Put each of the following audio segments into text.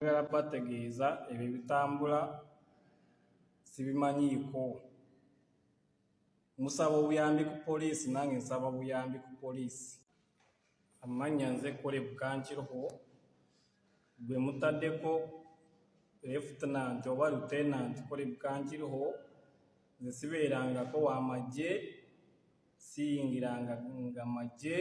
Njagala kubategeeza ebyo ebitambula sibimanyiiko. Musaba obuyambi ku poliisi nange nsaba obuyambi ku poliisi. Amannya nze Kole Bukankiroho gwe mutaddeko Lefutenanti oba Lutenanti Kole Bukankiroho. Nze sibeerangako wa magye, siyingiranga magye.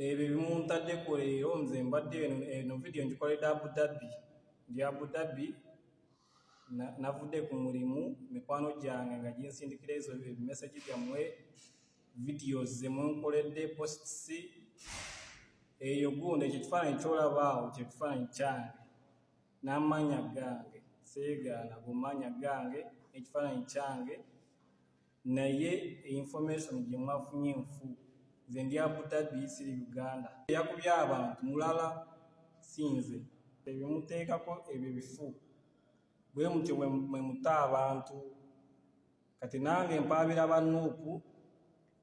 ebyo ebimuntaddeko leero nze mbadde eno vidiyo ngikoledde abudabbi ndi abudabbi navudde ku mulimu mikwano gyange nga ginsindikira ezo ebimesegi byammwe vidiyo zemunkoledde posts eyo gundi ekyo kifaananyi kyolabaawo kye kifaananyi kyange n'amaanya gange seegaana gumaanya gange ekifaananyi kyange naye information gye mwafunye nfu nze ndi abudhabi siri uganda yakubye abantu mulala sinze ebimuteekako ebyo bifu bwe mutyo mwe muta abantu kati nange mpaabira banuupu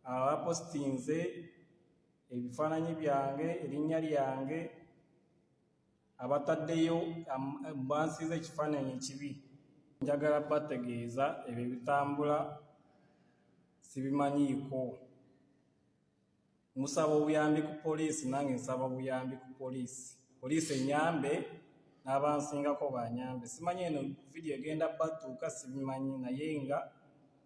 abapositinze ebifaananyi byange erinnya lyange abataddeyo bansiiza ekifaananyi ekibi njagala bategeeza ebyo ebitambula sibimanyiiko musaba obuyambi ku poliisi nange nsaba obuyambi ku poliisi poliisi enyambe n'abansingako banyambe simanyi eno vidiyo egenda batuuka sibimanyi naye nga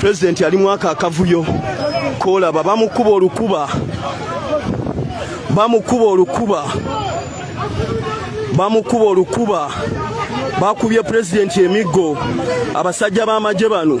pulezidenti ali mwaka akavuyo kolaba bamukuba olukuba bamukuba olukuba bamukuba olukuba bakubye pulezidenti emiggo abasajja b'amagye bano